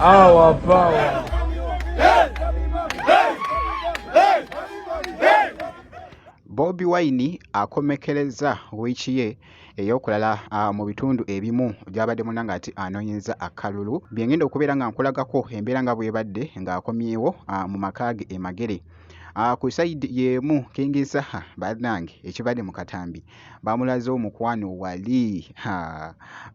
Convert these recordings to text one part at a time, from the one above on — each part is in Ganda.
Our power. Bobi Wine akomekereza wiiki ye ey'okulala ah, mu bitundu ebimu gy'abadde muna ng'ati anoonyeza akalulu bye ngenda okubeera nga nkulagako embeera nga bw'ebadde ng'akomyewo ah, mu maka ge e Magere. Ah, ku side yemu king saha banange ekibadde mu katambi bamulaze omukwano wali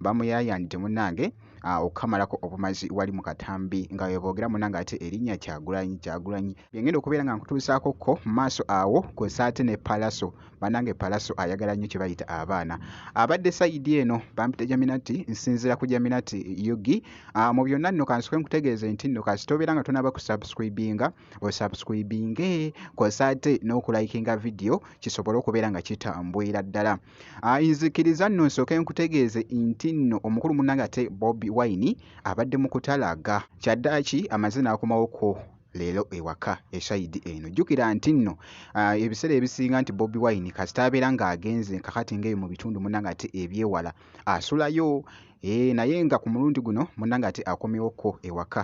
bamuyayanidde munange ah, okukamalako obumazi wali mu katambi nga weboogera munange ate erinnya kyagulanyi kyagulanyi byengenda okubeera nga nkutuusaako ko maaso awo kwesaate ne palaso banange palaso ayagala nnyo kyebayita abaana abadde sayidi eno bampita jaminati nsinzira ku jaminati yugi ah, mu byonna nno kansoke nkutegeeze nti nno kasita obeera nga tonaba kusubscribinga osubscribinge kosa ate n'okulayikinga vidiyo kisobole okubeera nga kitambwira ddala ah, nzikiriza nno nsooke nkutegeeze nti nno omukulu munanga ate bobi wine abadde mu kutalaga kyaddaaki amazina akomawoko leero ewaka eshayidi eno jjukira nti nno ah, ebiseera ebisinga nti bobi wine kasita abeera ng'agenze kakati ngaeyo mu bitundu munanga ate ebyewala asulayo eh, naye nga ku mulundi guno munanga ate akomewokko ewaka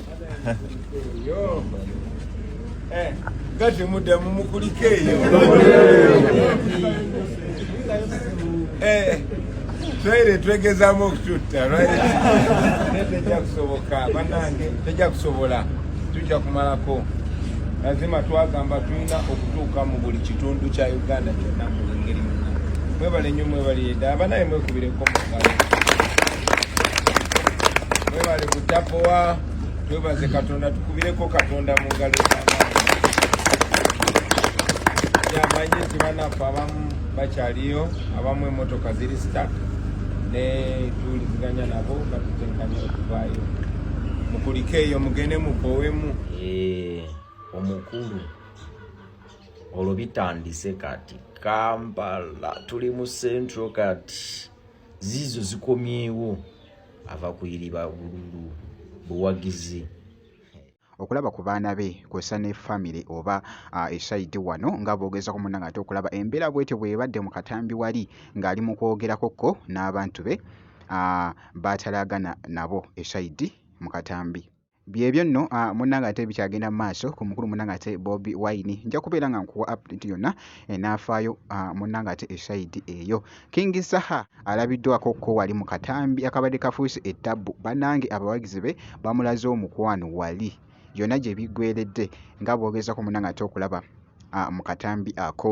Eh, kati muddamu mukulike eyo eh, twaire twegezamu okututta lwaletejja kusoboka banange tejja kusobola tujja kumalako Mazima twagamba tulina okutuuka mu buli kitundu kya Uganda kyonna mu buli ngeri yonna. Mwebale nnyo mwebale yedda abanaye mwekubireko mu ngalo. Mwebale butapowa twebaze Katonda tukubireko Katonda mu ngalo yamanyi nti banaffe abamu bakyaliyo abamu emotoka ziri stak ne tuwuliziganya nabo batutenkanya okuvaayo mukulikeeyo mugende mukowemu Eh, omukulu olwo bitandise kati kampala tuli mu central kati ziizo zikomyewo ava kuyiriba bululu buwagizi okulaba ku baana be kw'ossa ne famire oba esaidi wano nga boogeza ku munna ng'ate okulaba embeera bwetyo bw'ebadde mu katambi wali ng'ali mu kwogerako ko n'abantu be baatalaagana nabo esaidi mu katambi byebyo nno ah, munange ate bikyagenda mu maaso ku mukulu munange ate bobi wine nja kubeera nga nkuwa update yonna enaafaayo eh, ah, munange ate esaidi eyo king saha alabiddwako ko wali mu katambi akabadde kafuuse ettabbu banange abawagizi be bamulaze omukwano wali yonna gye biggweredde nga bwogezako munange ate okulaba ah, mu katambi ako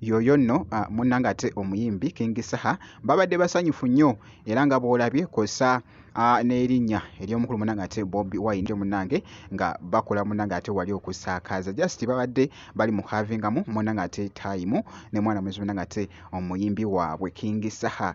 yoyo nno ah, munnanga ate omuyimbi king saha babadde basanyufu nnyo era nga bwolabye kosa Ah, n'erinnya ery'omukulu munange ate bobi wine yo munange nga bakola munange ate wali okusakaza just babadde bali mu havingamu munange ate time ne mwana muzi munange ate omuyimbi waabwe king saha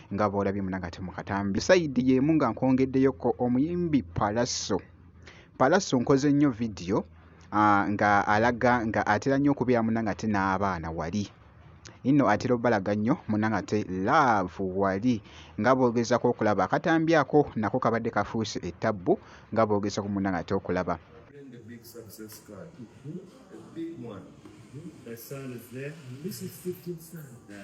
nga bwolabye munange ate mukatambi sayidi yemu nga nkwongeddeyoko omuyimbi palaso palaso nkoze nnyo vidiyo ah, nga alaga nga atera nnyo okubeera munange ate n'abaana wali inno atera obalaga nnyo munange ate laavu wali nga boogezako okulaba akatambi ako nako kabadde kafuuse ettabbu nga boogezako munange ate okulaba My son is there. This is 15 son. Yeah.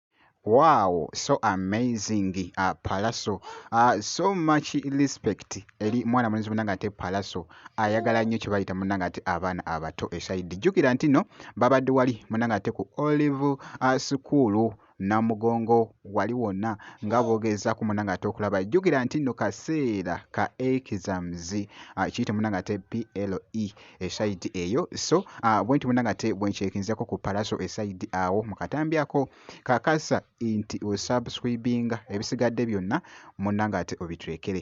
Wow, so amazing uh, Palaso uh, so much respect eri mwana mulenzi munanga ate Palaso ayagala uh, nnyo kye bayita munanga ate abaana abato esaidi jjukira nti no babadde wali munanga ate ku olive uh, sukuulu namugongo wali wonna nga bogeeza ku munanga ate okulaba jjukira nti no kaseera ka exams uh, kiyite munanga ate PLE esayidi eyo so uh, bwenti bwona nga te bwenkyekinzako ku palaso esayidi awo mukatambi ako kakasa nti osubscribinga ebisigadde byonna munna nga ate obitulekere